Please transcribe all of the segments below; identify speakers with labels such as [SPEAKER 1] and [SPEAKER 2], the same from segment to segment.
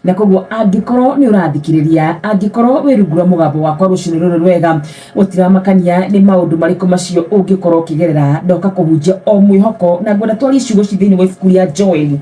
[SPEAKER 1] na koguo angĩkorwo nĩ ũrathikĩrĩria angĩkorwo wĩ rungu rwa mũgambo wakwa rũcinĩ rũrũ rwega gũtiramakania nĩ maũndũ marĩkũ macio ũngĩkorwo ũkĩgerera ndoka kũhunjia o mwĩhoko na ngwenda twarie ciugo ci thĩinĩ wa ibuku rĩa joeli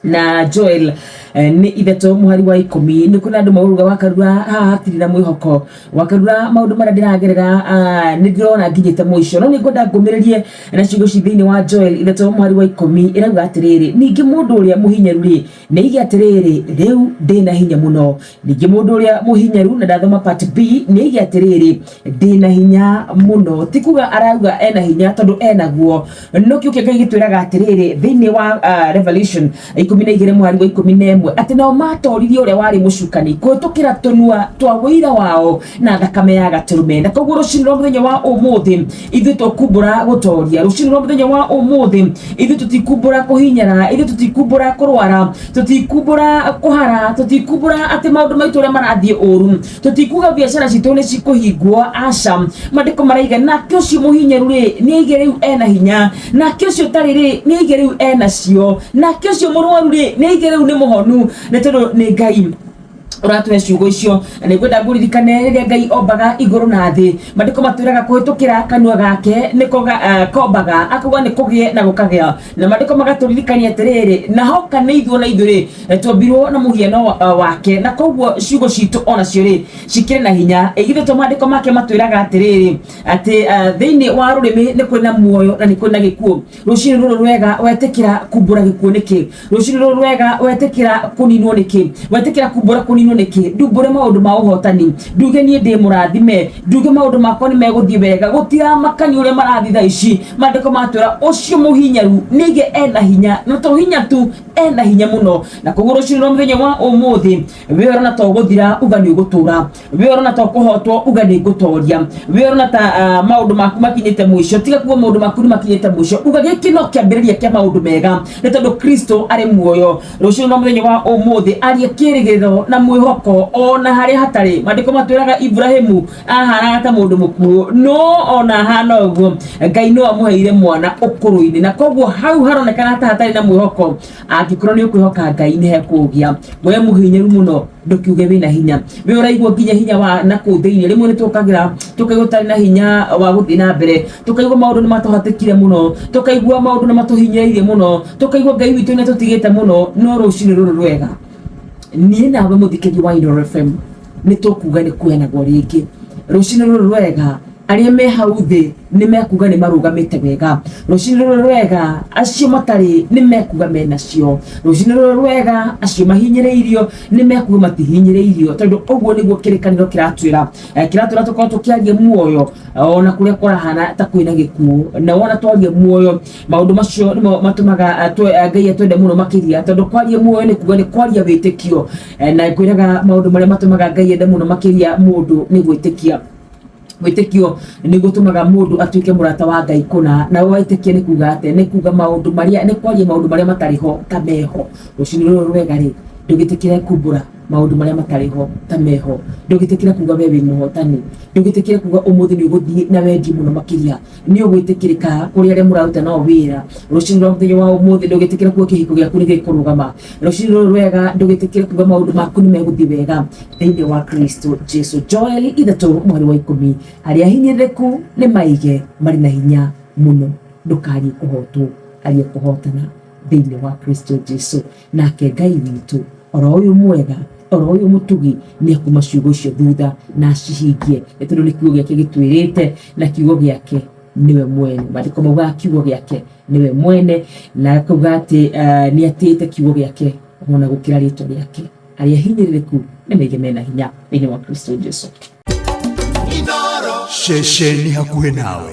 [SPEAKER 1] na joel eh, nĩ ithatũ mũhari wa ikũmi nĩ kwĩna andũ mauruga wakarura haha hatirĩ na mwĩhoko wakarura maũndũ marĩa ndĩragerera ah, nĩ ndĩrona nginyĩte mũico no nĩ ngwenda ngũmĩrĩrie na ciugo ci thĩinĩ wa joel ithatũ mũhari wa ikũmi ĩrauga atĩrĩrĩ ningĩ mũndũ ũrĩa mũhinyaru-rĩ Nĩ aige atĩrĩrĩ, rĩu ndĩ na hinya mũno. Ningĩ mũndũ ũrĩa mũhinyaru, na ndathoma part B, nĩ aige atĩrĩrĩ, ndĩ na hinya mũno. Ti kuga arauga ena hinya tondũ enaguo. Nĩkĩo Ngai gĩtwĩraga atĩrĩrĩ thĩinĩ wa uh, Revelation ikũmi na igĩrĩ mwari wa ikũmi na ĩmwe atĩ nao matoririe ũrĩa warĩ mũcukani kũhĩtũkĩra tũnua twa ũira wao na thakame ya gatũrũme. Na koguo rũcinĩ rwa mũthenya wa ũmũthĩ ithuĩ tũkumbũra gũtoria rũcinĩ rwa mũthenya wa ũmũthĩ ithuĩ tũtikumbũra kũhinyara ithuĩ tũtikumbũra kũrwara tũtikumbũra kũhara tũtikumbũra atĩ maũndũ maitũ ũrĩa marathiĩ ũru tũtikuga biacara citũ nĩ cikũhingwo aca maandĩko maraiga nake ũcio mũhinyaru rĩ nĩ aige rĩu ena hinya nake ũcio ũtarĩ rĩ nĩ aige rĩu enacio nake ũcio mũrwaru rĩ nĩ aige rĩu nĩ mũhonu nĩ tondũ nĩ ngai ũratũhe ciugo icio na nĩngwenda ngũririkane rĩrĩa ngai ombaga igũrũ na thĩ maandĩko matwĩraga kũhĩtũkĩra kanua gake nĩko ga- eh, kombaga akauga nĩ kũgĩe na gũkagĩa na maandĩko magatũririkania atĩrĩrĩ na hoka nĩ ithuo na ithuĩ-rĩ eh, twombirwo na mũhiano wa- eh, wake na koguo ciugo citũ onacio-rĩ cikĩrĩ na hinya igithe to maandĩko make matwĩraga atĩrĩrĩ atĩ eh, thĩinĩ wa rũrĩmĩ nĩ kũrĩ na muoyo na nĩ kũrĩ na gĩkuũ rũcirĩ rũrũ rwega wetĩkĩra kumbũra gĩkuũ nĩkĩ rũcirĩ rũrũ rwega wetĩkĩra kũninwo nĩkĩ wetĩkĩra kumbũra kũninwo nĩkĩ ndumbũre maũndũ ma ũhotani nduge niĩ ndĩ mũrathime nduge maũndũ makwa nĩ megũthiĩ wega gũtiramakani ũrĩa marathiĩ thaa ici maandĩko matwĩra ũcio mũhinyaru nĩige ena hinya na to hinya tu ena hinya mũno na koguo rũcirĩ rwa mũthenya wa ũmũthĩ wĩorana to gũthira uga nĩ ũgũtũra we orona to kuhotwo uga ni ngutoria we orona ta uh, maundu maku makinyite mwisho tiga kuga maundu maku ni makinyite mwisho uga giki no kiambiriria kia maundu mega ni tondu kristo ari muoyo rucio no muthenya wa umuthi arie kirigiriro na mwihoko ona haria hatari mandiko matwiraga ibrahimu ahanaga ta mundu mukuo no ona ahana uguo ngai no amuheire mwana ukuru-ini na koguo hau haronekana ta hatari na mwihoko angĩkorwo nĩ ũkwĩhoka ngai nĩ hekũgĩa we mũhinyaru mũno ndũkiuge wĩna hinya we ũraigua nginya hinya wa na kũu thĩinĩ rĩmwe nĩ tũkagĩra tũkaigua tũtarĩ na hinya wa gũthiĩ na mbere tũkaigua maũndũ nĩ matũhatĩkire mũno tũkaigua maũndũ nĩ matũhinyĩrĩirie mũno tũkaigua ngai witũ nĩ tũtigĩte mũno no rũcinĩ rũrũ rwega niĩ nawe mũthikĩria wa Inooro FM nĩ tũkuga nĩ kwenagwo rĩngĩ rũcinĩ rũrũ rwega Arĩa me hau thĩ nĩ mekuga nĩ marũgamĩte wega. Rũcinĩ rũrĩa rwega acio matarĩ nĩ mekuga menacio. Rũcinĩ rũrĩa rwega acio mahinyĩrĩirio nĩ mekuga matihinyĩrĩirio, tondũ ũguo nĩguo kĩrĩkanĩro kĩratwĩra. Eh, Kĩratwĩra tũkorwo tũkĩaria muoyo eh, ona kũrĩa kũrahana ta kwĩna gĩkuũ. Na wona twaria muoyo, maũndũ macio nĩmo matũmaga eh, twe- eh, Ngai atwende mũno makĩria, tondũ kwaria muoyo nĩ kuga nĩ kwaria wĩtĩkio. Eh, Na ngwĩraga maũndũ marĩa matũmaga Ngai ende mũno makĩria mũndũ nĩ gwĩtĩkia. Wĩtĩkio nĩ gũtũmaga mũndũ atuĩke mũrata wa Ngai kũna. Na wĩtĩkia nĩ kuga atĩ nĩ kuga maũndũ marĩa nĩ kwaria maũndũ marĩa matarĩ ho ta meho. Rũcinĩ rũrũ rwega rĩ, ndũgĩtĩkĩre kumbũra maũndũ marĩa matarĩ ho ta meho. Ndũgĩtĩkĩre kuga we wĩ mũhotani. Ndũgĩtĩkĩre kuga ũmũthĩ nĩ ũgũthiĩ na wendi mũno makĩria. nĩ ũgwĩtĩkĩrĩka kũrĩ arĩa mũraruta nao wĩra rũcinĩ rwa mũthenya wa ũmũthĩ ndũgĩtĩkĩre kuo kĩhiko gĩaku nĩ gĩkũrũgama rũcinĩ rũrũ rwega ndũgĩtĩkĩre kuga maũndũ maku nĩ megũthiĩ wega thĩinĩ wa kristo jesu joeli ithatũ mweri wa ikũmi arĩa ahinyĩrĩrĩku nĩ maige marĩ na hinya mũno ndũkariĩ kũhotwo ariĩ kũhotana thĩinĩ wa kristo jesu Nake Ngai witũ, o ro ũyũ mwega, o ro ũyũ mũtugi, nĩ ekuma ciugo icio thutha na acihingie, nĩ tondũ nĩ kiugo gĩake gĩtwĩrĩte, na kiugo gĩake nĩwe mwene. Maandĩko maugaga kiugo gĩake nĩwe mwene, na akauga atĩ nĩ atĩĩte kiugo gĩake o na gũkĩra rĩĩtwa rĩake. Arĩa ahinyĩrĩrĩku nĩ maige me na hinya thĩinĩ wa Kristo Jesu. Ceceni
[SPEAKER 2] hakuhĩ
[SPEAKER 1] nawe.